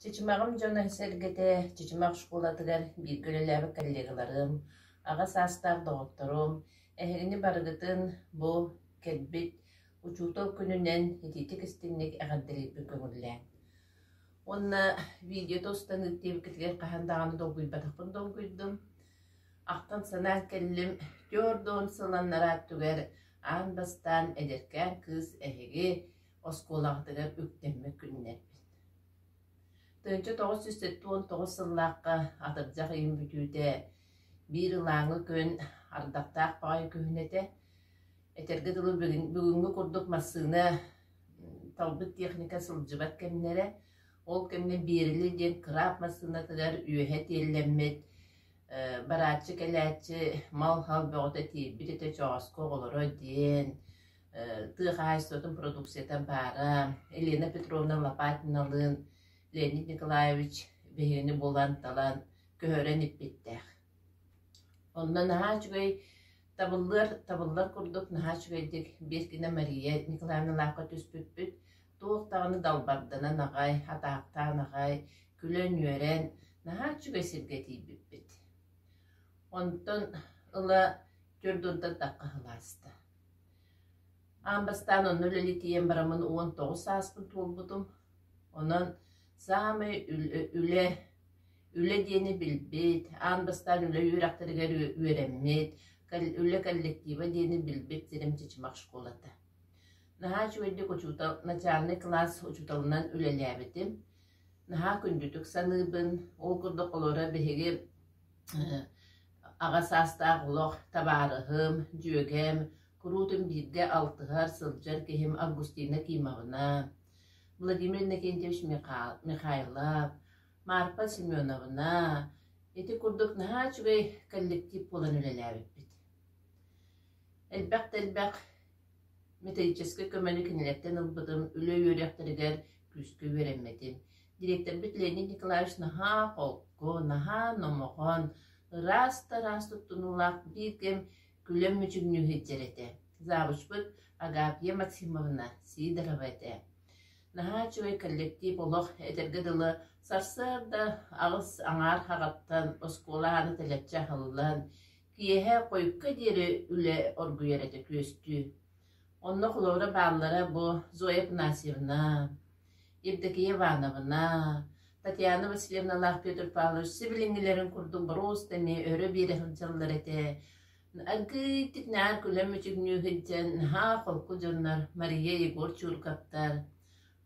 Чычымаҕым дьоно сэргэтэ Чычымах школатыгар бииргэ үлэлээбит коллегаларым, аҕа саастаах доҕотторум, эһигини барыгытын бу кэлбит учуутал күнүнэн итиитик-истиҥник эҕэрдэлиирбин көҥүллээн. Уонна видеота устан ыыттыыбыккытыгар хаһан даҕаны долгуйбатахпын долгуйдум. Ахтан-санаан кэллим, түөрт да он сыл аннараа өттүгэр аан бастаан эдэркээн кыыс эһиги оскуолаҕытыгар үктэммит күннэрбит. Тыынча тоҕус сүүс сэттэ уон тоҕус сыллаахха атырдьах ыйын бүтүүтэ биир ылааҥы күн ардахтаах баҕайы күһүн этэ. Этэргэ дылы бүгүҥҥү курдук массыына талбыт техника сылдьыбат кэмнэрэ. Ол кэмҥэ Биэрили диэн кыраап массыынатыгар үөһэ тиэллэммит барааччы кэлээччи мал-хал бөҕөтө тиийбит этэ чооску оҕолоро диэн тыа хаһаайыстыбатын продукциятын баара, Елена Петровна Лопатиналыын Леонид Николаевич биһигини булан, талан, көһөрөн иппиттээх. Онно наһаа үчүгэй табыллыар, табыллар курдук наһаа үчүгэйдик биир гына Мария Николаевналаахха түспүппүт. Туох даҕаны далбарданан аҕай, атаахтаан аҕай, күлэн-үөрэн, наһаа үчүгэй сиргэ тиийбиппит. Онтон ыла түөрт уонтан тахха сыл ааста. Аан бастаан онно үлэлитийэн бараммын уон тоҕус сааспын туолбутум. Онон саамай үлэ, үлэ диэни билбит, аан бастаан үлэ үөрэхтэригэр үөрэммит, үлэ коллектива диэни билбит сирим Чычымах школата. Наһаа үчүгэйдик учуутал, начальнай кылаас учууталынан үлэлээбитим. Наһаа күндүтүк саныыбын. Ол курдук олоро биһиги Аҕа саастаах олох табаарыһым, дьүөгэм, куруутун биирдэ алтыһар, сылдьар киһим Августина Кимовна, Владимир Иннокентьевич Миха- Михайлов, Маарпа Семеновна, ити курдук наһаа үчүгэй коллектив буолан үлэлээбиппит. Элбэх да элбэх металлическай көмөнү кинилэртэн ылбытым, үлэ үөрэхтэригэр күүскэ үөрэммитим. дириэктэрбит Леонид Николаевич наһаа холку, наһаа номохон, ыраас да ыраас туттунуулаах биир кэм күлэн мүчүҥнүү сылдьар этэ. Завучпут Агапия Максимовна Сидорова этэ. Наһаа үчүгэй коллектив олох этэргэ дылы сарсыарда аҕыс аҥаар хаҕаттан оскуола аана тэлэччи аһыллан, киэһэ хойукка диэри үлэ оргуйар этэ күөстүү. Онно холобура бааллара бу Зоя Панасьевна, Евдокия Ивановна, Татьяна Васильевналаах Петр Павлович сибилиҥҥилэрин курдук боруоста эмиэ өрө биэрэ сылдьаллар этэ. Аргыыйдык наар күлэн мүчүгнүү сылдьан наһаа холку дьоннор Мария Егор Чууркаптар,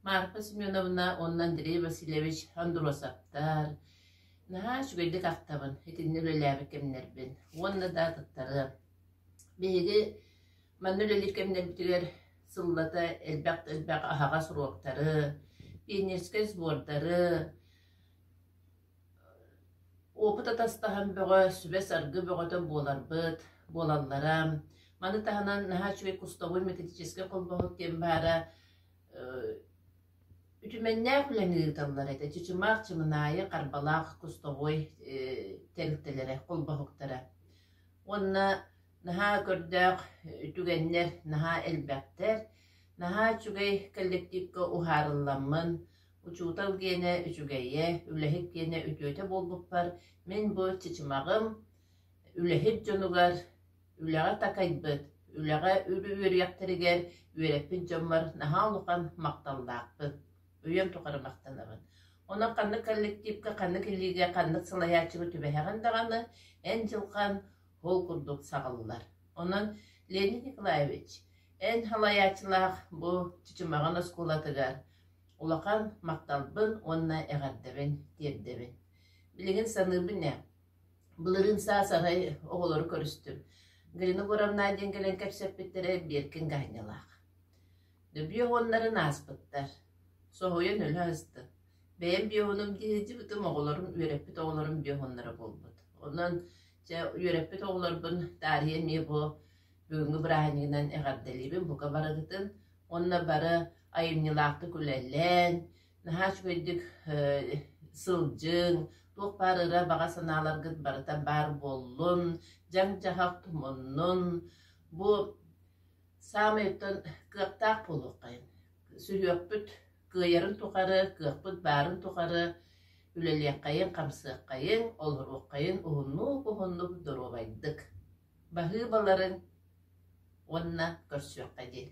Марфа Семеновна уонна Андрей Васильевич Андросовтар наһаа үчүгэйдик ахтабын, итиннэ үлэлээбит кэмнэрбин уонна да атыттары. Биһиги Манна үлэлиир кэмнэрбитигэр сыллата элбэх-элбэх аһаҕас уруоктары, пионерскай сбордары, опыт атастаһан бөҕө, сүбэ-саргы бөҕөтө буоларбыт, буолаллара. Маны таһынан наһаа үчүгэй кустабый металлическай холбоһук диэн баара үтүмэннээх үлэни ыыталлар этэ. Чычымаах, Чымынаайы, Харбалаах кустовой тэрилтэлэрэ, холбоһуктара. Уонна Наһаа көрдөөх түгэннэр наһаа элбэхтэр. Наһаа үчүгэй кэллэктиипкэ уһаарылламмын, учуутал киэнэ үчүгэйэ, үлэһит киэнэ үтүөтэ буолбуппар мин бу чычымаҕым үлэһит дьонугар, үлэҕэ такайбыт, үлэҕэ үөрүйэхтэригэр үөрэппит дьоммор наһаа улахан махталлаахпын, үйэм тухары махтанабын. Онон ханнык кэллэктиипкэ, ханнык илиигэ, ханнык салайааччыга түбэһэҕин даҕаны, эн дьылҕан ол курдук саҕыллар. Онон Леонид Николаевич, эн салайааччылаах бу Чычымаҕын оскуолатыгар улахан махталбын уонна эҕэрдэбин тиэрдэбин. Билигин саныыбын ээ, былырыын саас-арай оҕолору көрүстүм. Галина Егоровна диэн кэлэн кэпсэппиттэрэ Биэркин Гаанньалаах. Дөбүө уоннарын ааспыттар. Соһуйан өлө астык. Бэйэм биоһунум дии сылдьыбытым оҕолорум үөрэппит оҕолорум биоһуннара буолбут. Онон Дьэ, үөрэппит оҕолорбун таарыйа эмиэ бу бүгүҥҥү бырааһынньыгынан эҕэрдэлиибин бука барыгытын уонна бары айымньылаахтык үлэлээн, наһаа үчүгэйдик сылдьыҥ, туох баар ыра баҕа санааларгыт барыта баар буоллун, дьаҥ-дьаһах муннун. Бу саамай оттон кыахтаах буолуоххайын. Сүһүөхпүт Кыайарын тухары, кыахпыт баарын тухары үлэлиэххэйиҥ, хамсыаххайыҥ, олоруоххайын уһуннук-уһуннук доруобайдык баһыыбаларыҥ уонна көрсүөххэ диэн